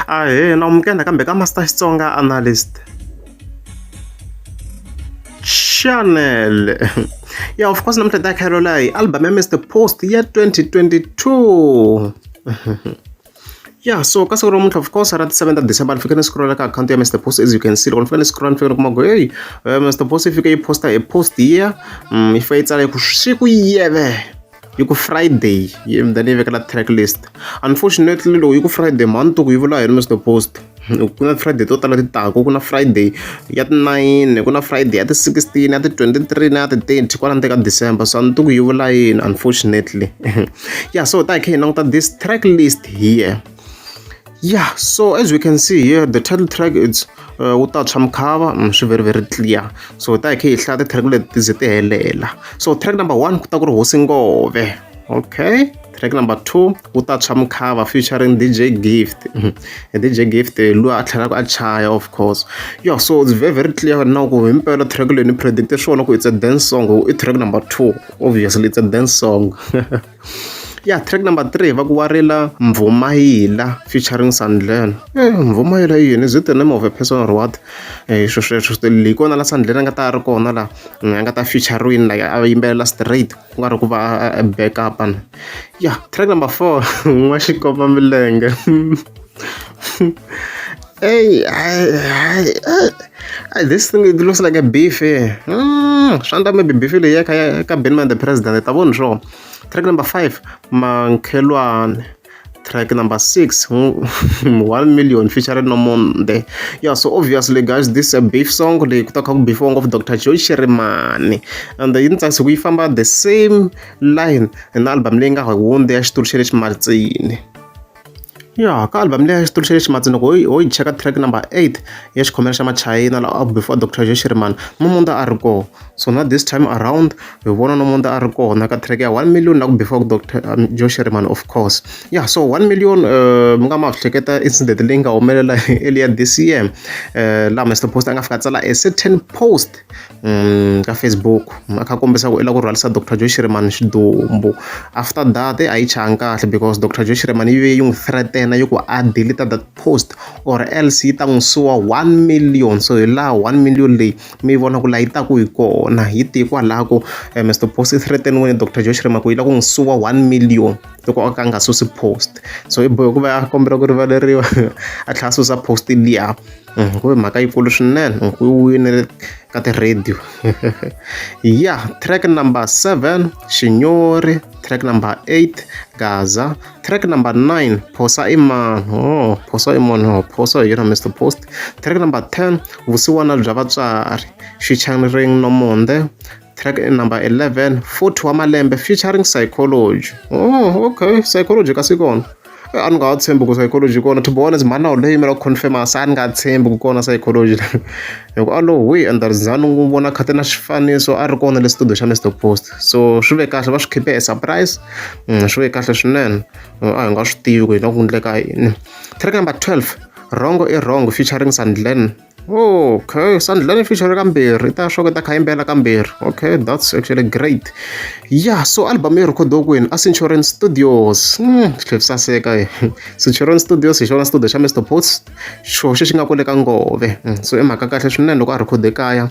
Ahee, na amukela nakambe ka Master Xitsonga Analyst. Chanel. Yeah, of course, namuntlha ta Caroline, album ya Mr. Post ya 2022. Yeah, so ka siku ra muntlha of course ra ti 7 ta December ni fike ni scrolla ka account ya Mr. Post as you can see loko ni fike ni scrolla ni fike ni kuma ku hey eh, Mr. Post yi fike yi posta hi post here mm, yi fike yi tsala yi ku swi ku yeve yi ku friday yi mi ta ni yi vekela track list unfortunately loko yi ku friday mhani to ku yi vula yini mr post ku na friday to tala ti taka ku na friday ya ti nine ku na friday ya ti sixteen ya ti twenty three na ya ti thirty kwala nte ka december so a ni to ku yi vula yini unfortunately ya so ta hi kha hi languta this track list here yeah so as we can see here the title track it's uh, wu ta tshwa mukhava mm, swi very very clear so hi ta hi kha hi hlaya ti-track leti ti ze ti helela so track number one ku ta ku ri hosi ngove okay track number two wu ta tshwa mukhava featuring dj gift mm-hmm. dj gift eh, loyi a tlhelaka a chaya of course yo so it's very very clear na ku himpela track leyi ni predicte swona ku it's a dance song i track number two obviously it's a dance song Ya track number three va ku wa rila Mbvumayila featuring Sandlern eh Mbvumayila i yini is it the name of a person or what eh swo sweswo swi hi kona la Sandlern a nga ta a ri kona la a nga ta featuring like a yimbelela straight ku nga ri ku va a back up ya track number four n'waxikomba milenge Hey, I, I, I, this thing it looks like a beef here. Mm, swi endla maybe beef leyi ya ka ya ka Benman the president hi ta vona swo. Track number 5 Mankhelwane. Track number 6 hmm, 1 million featuring Nomonde. Yeah, so obviously guys this is a beef song leyi ku ta kha ku beefiwa ngopfu Dr. Joy Shirimani. And yi ni tsakisa ku yi famba the same line na album leyi nga hundza ya xitulu xa le ximatsini. Ya ka album leyi a yi tumbuluxe lexi madzolonga ho yi ho yi cheka track number eight ya xikhomela xa machayina la before doctor Joe Shirimani Nomonde a ri kona so na this time around hi vona Nomonde a ri kona ka track ya one million la ku before doctor Joe Shirimani of course ya so one million mi nga ma swi hleketa incident leyi nga humelela earlier this year laha Mister Post a nga fika a tsala a certain post ka Facebook a kha a kombisa ku i lava ku rhwarisa Doctor Joe Shirimani xidumbu after that a yi changi kahle because Doctor Joe Shirimani yi ve yi n'wi threaten-a yi ku a delete that post or else yi ta n'wi suwa one million so hi laha one million leyi mi yi vona ku laha yi taka hi kona hi tihi kwalaho ku Mister Boss i threaten-iwe hi Doctor Joe Shirimani ku yi lava ku n'wi suwa one million loko o ka a nga susi post so i bohe ku va a kombela ku rivaleriwa a tlhela a susa post liya. ku ve mhaka yikulu swinene hi ku winile ka ti-radio ya track number seven xinyori track number eight gaza track number nine phosa i mani o oh, phosa i mani o oh, phosa hi yona mr post track number ten vusiwana bya vatswari xichangering nomonde track number 11 futhi wa malembe featuring psychology oh okay psychology kasi kona eh, a ni nga ha tshembi ku psychology kona to be honest mhana leyi yimela ku confirma se a ni nga tshembi ku kona psychology hikuva a lowu hi endarizani n'wi vona khate na xifaniso a ri kona le studio xa mr post so swi ve kahle va swi khipe hi surprise mm, swi ve kahle swinene mm, a hi nga swi tivi ku hi nga ku endleka yini track number 12 wrong i wrong featuring sandlen okay sandlani feature kambirhi ta swa ku ta kha yimbela kambirhi okay that's actually great yeah so album yi rhikhodiwe kwini a centurion studios mm, tlhe saseka eh. centurion studios hi xona studio xa mr pots xo xi xi nga kwale ka ngove mm, so i mhaka kahle swinene loko a rhikhode kaya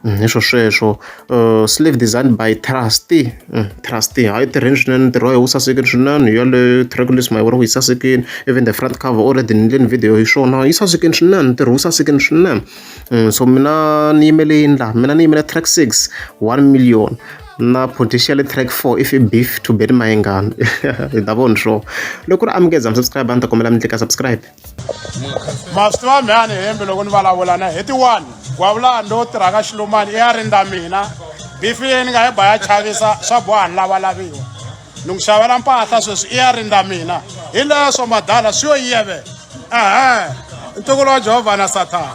Mm, hi swo sweswo uh, slave designed by trusty mm, trusty hayi tirheni swinene ntirho wa yi wu sasekile swinene yaleyo track list ma yi vona ku yi sasekile even the front cover already ni endleni video hi swona yi sasekile swinene ntirho wu sasekile swinene mm, so mina ni yimele yini laha mina ni yimele track six one million na potential track 4 if beef to bet mayengani hi ta vona swo loko ri amukeza mi subscribe a ni ta kombela mi tlika subscribe maswi wa mhani hembe loko ni vulavula na heti one gwavulani lowu tirhaka xilumani i ya rindza mina bifi leyi ni nga yi ba ya chavisa swa boha ni lavalaviwa ni ku xavela mpahla sweswi i ya rindza mina hi leswo madala swi yo yiyevela ehe ntukulu wa jehovha na sathana